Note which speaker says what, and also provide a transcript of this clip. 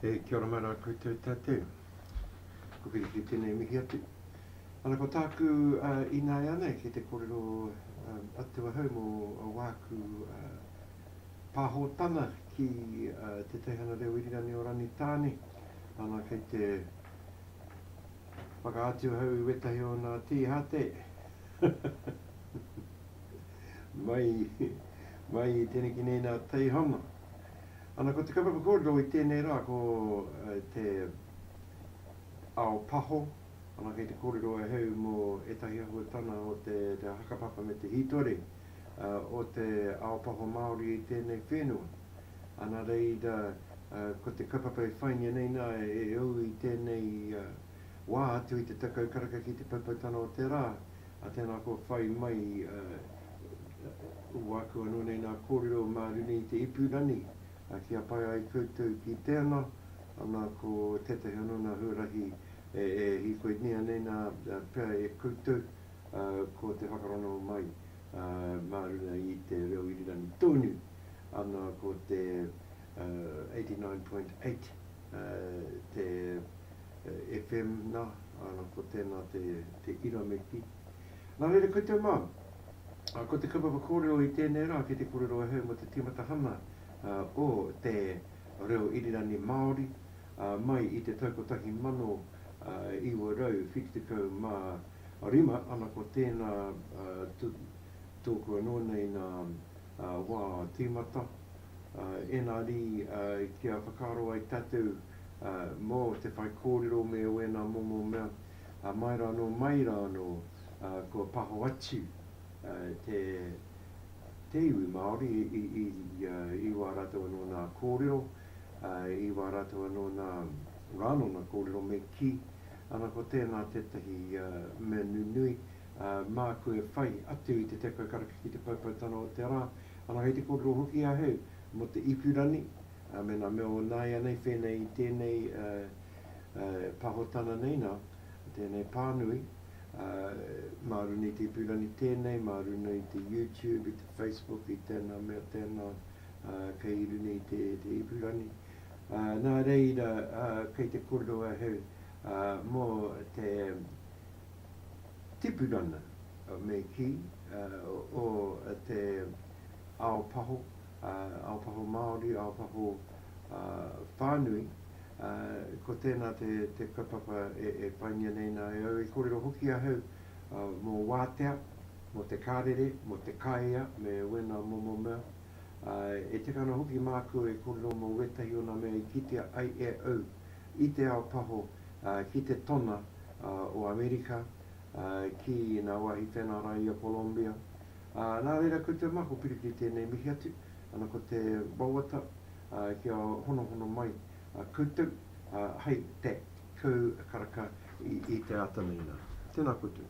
Speaker 1: E kia ora mai rā koutou tātou. Ko Piripi tēnei mihi atu. Ana ko tāku uh, inaianei ki te kōrero um, atu ahau mō a wāku uh, pāhotana ki uh, te teihana reo irirani o Rangitāne. Ana kei te whakaatu ahau i wetahi o nā tīhate Mai, mai i teneki nei nā Teihana. Ana ko te kaupapa kōrero i tēnei rā ko te ao paho, ana kei te kōrero ahau mō ētahi ahuatana o te hakapapa me te hītori o te ao paho Māori i tēnei whenua. Ana reira ko te kaupapa e whaingia nei nā e au i tēnei wā atu i te tekau karaka ki te paipaitanga o te rā, ā, tēnā kua whai mai, ā, uaku anō nei ngā kōrero mā runei i te ipurangi, ā, kia pai ai koutou ki tēnā, ana ko tētahi anō ngā huarahi e, e hīkoinea nei nā, ā, pea e koutou, ā, ko te whakarongo mai, ā, mā runga i te reo irirangi tōnu, ana ko te, ā, 89.8, ā, te FM na, ana ko tena te te ira me ki. Na reira koutou ma, a ko te kaupapa korero i tenei ra ki te korero ahau mo te timatahana o te reo irirani Maori mai i te tau 1975 ana ko tena toku ano nei na wa timata ena ri kia whakaro ai tatou mō te whaikōrero me wēnā momo mea, ā, mai rā anō, mai rā anō, ā, kua paho atu te, te iwi Māori i, i, i wā rātou anō nā kōrero, ā, i wā rātou anō nā, rā anō nā kōrero me kī, ana ko tēnā tētahi mea nunui, ā, māku e whai atu i te tekau karaka ki te poupoutanga o te rā, ana kei te kōrero hoki ahau mō te ipu rani, me ngā mea o nāianei, whēnei i tēnei pahotana nei nā, tēnei pānui, mā runei te ipurangi tēnei, mā runei i te YouTube, i te Facebook, i tēnā mea tēnā, kei i runei i te ipurangi. Nā reira, kei te kōrero ahau mō te tipuranga, me kī, o te ao paho, Aotaho Māori, Aotaho whānui, ko tēnā te kaupapa e paingia nei nā e au i kōrero hoki ahau mō wātea, mō te kārere, mō te kāea me wēnā momo mea. E tika ana hoki māku e kōrero mō wētahi o nā mea i kitea ai e au i te ao paho ki te tona o Amerika, ki ngā wāhi tēnā rā i a Kolombia, Ā, nā reira koutou mā, ko Piriki tēnei mihi atu, ana ko te wawata, ā, kia honohono mai koutou, ā, hei te kau karaka i te āta nei nā. Tēnā koutou.